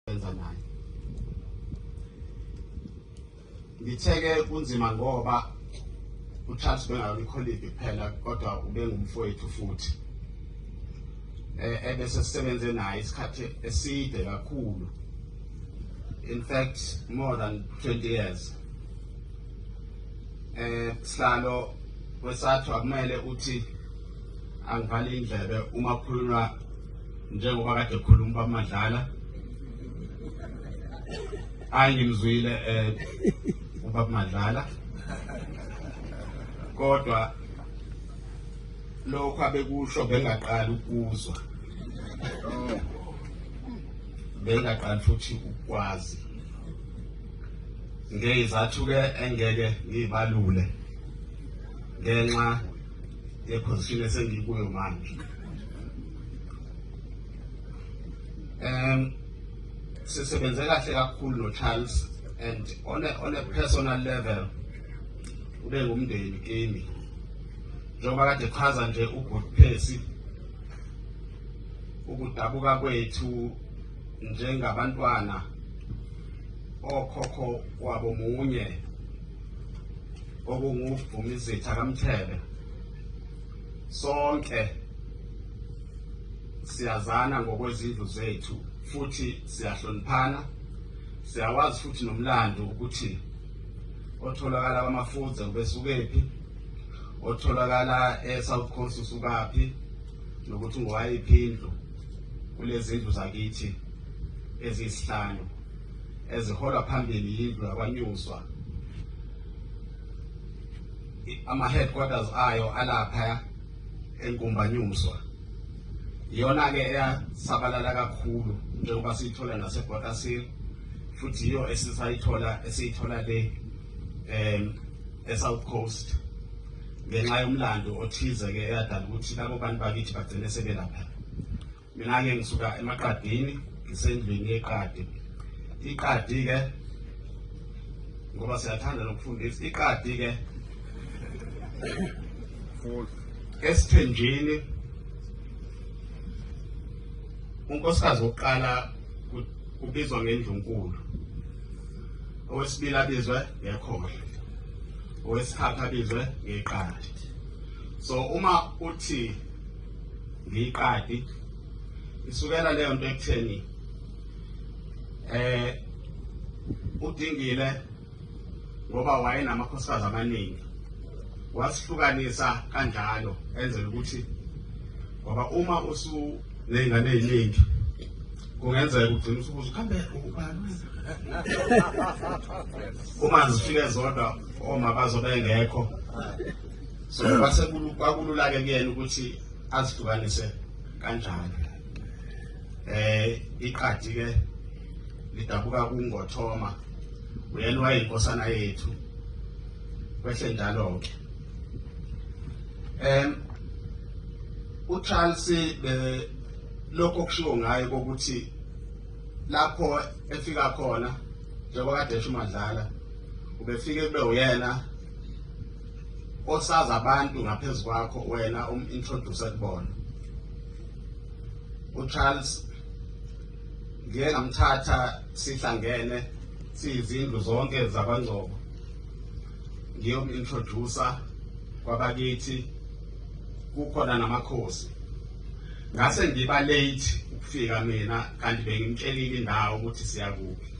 benza naye ngitheke kunzima ngoba uCharles bengayona ikholidi kuphela kodwa ubengumfowethu futhi eh ebese sisebenze naye isikhathi eside kakhulu in fact more than 20 years eh sihlalo kwesathu akumele uthi angivale indlebe uma kukhulunywa njengoba kade khuluma bamadlala hayi ngimzwile eh ubaba madlala kodwa lokho abekusho bengaqala ukuzwa bengaqala futhi ukwazi ngeyizathu ke engeke ngibalule ngenxa yeposition esengikuyo manje um sisebenze kahle kakhulu no-charles and on a, on a personal level ube ngumndeni kimi njengoba kade chaza nje ugood phesi ukudabuka kwethu njengabantwana okhokho wabo munye okunguvumizitha kamthebe sonke siyazana ngokwezindlu zethu futhi siyahloniphana siyawazi futhi nomlando ukuthi otholakala kwamafuze ubesukephi otholakala e-south coast usukaphi nokuthi ngowayiphi indlu kulezi ndlu zakithi eziyisihlanu eziholwa phambili yindlu yakwaNyuswa ama-headquarters ayo alapha enkumbanyuswa iyona-ke eyasabalala kakhulu njengoba siyithola nasebhotasir futhi yiyo esisayithola esiyithola le um e-south coast ngenxa yomlando othize-ke eyadala ukuthi labo bantu bakithi bagcine sebelapha Mina-ke ngisuka emaqadini ngisendlini yeqadi iqadi-ke ngoba siyathanda nokufundisa iqadi-ke esithenjini unkosikazi wokuqala ubizwa ngendlunkulu owesibili abizwe ngekhohle owesithathu abizwe ngeqadi so uma uthi ngiyiqadi isukela leyo nto ekutheni eh udingile ngoba wayenamakhosikazi amaningi wasihlukanisa kanjalo enzela ukuthi ngoba uma usu nezingane eziningi kungenzeka ugcina usubuza kambe ubani uma zifike zodwa oma bazobe engekho so kwase kwakululake kuyena ukuthi azihlukanise kanjani eh iqadi ke lidabuka kungothoma uyena wayinkosana yethu kwehle njalo ke em uCharles be lokho kushiwo ngayo ukuthi lapho efika khona njengoba kade esho uMadlala ubefike kube uyena osazi abantu ngaphezu kwakho wena um-introduce kubona ucharles ngiye ngamthatha sihlangene siyizindlu zonke zabangcobo ngiyom-introducer kwabakithi kukhona namakhosi ngase ngiba late ukufika mina kanti bengimtshelile indawo ukuthi siyakuphi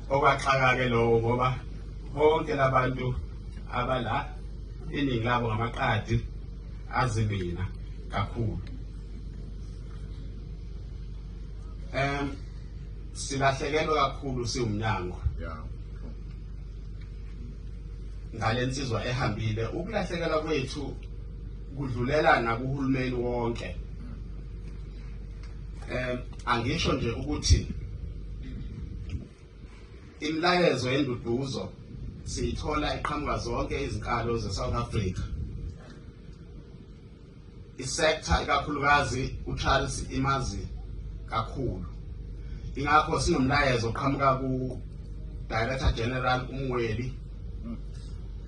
okwaxaka-ke lowo ngoba bonke labantu abala iningi labo ngamaqadi azi mina kakhulu um silahlekelwe kakhulu siwumnyango ngale nsizwa ehambile ukulahlekelwa kwethu kudlulela nakuhulumeni wonke um angisho nje ukuthi imilayezo yenduduzo siyithola iqhamuka zonke izinkalo ze-south africa isektha ikakhulukazi ucharles imazi kakhulu ingakho sinomlayezo oqhamuka ku-director general umweli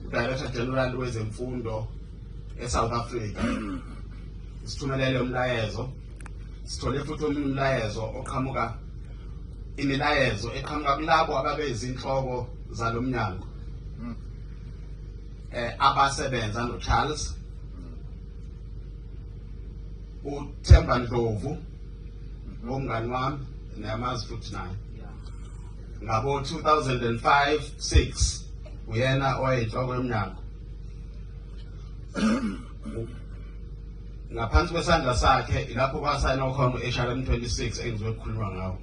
udirector general wezemfundo eSouth Africa sithumelele umlayezo sithole futhi omunye umlayezo oqhamuka imilayezo eqhamuka kulabo ababeyizinhloko zalo mnyango hmm. eh abasebenza noCharles uThemba Ndlovu ngomngani wami niyamazi futhi naye ngabo 2005 6 uyena oyinhloko yomnyango ngaphansi kwesandla sakhe ilapho kwasayina ukhona u-hrm 26 engizobe kukhulunywa ngawo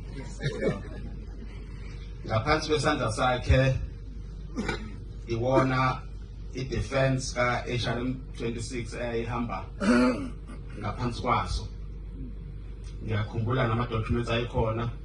ngaphansi kwesandla sakhe iwona i-defense ka-hrm 26 eyayihamba ngaphansi kwaso ngiyakhumbula nama-documents ayikhona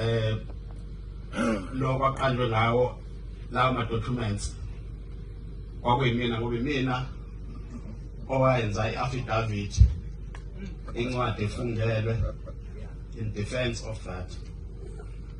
eh lo kwaqanjwe ngawo lawo ma documents kwakuyimina ngoba imina owayenza i-affidavit incwadi efungelwe in defense of that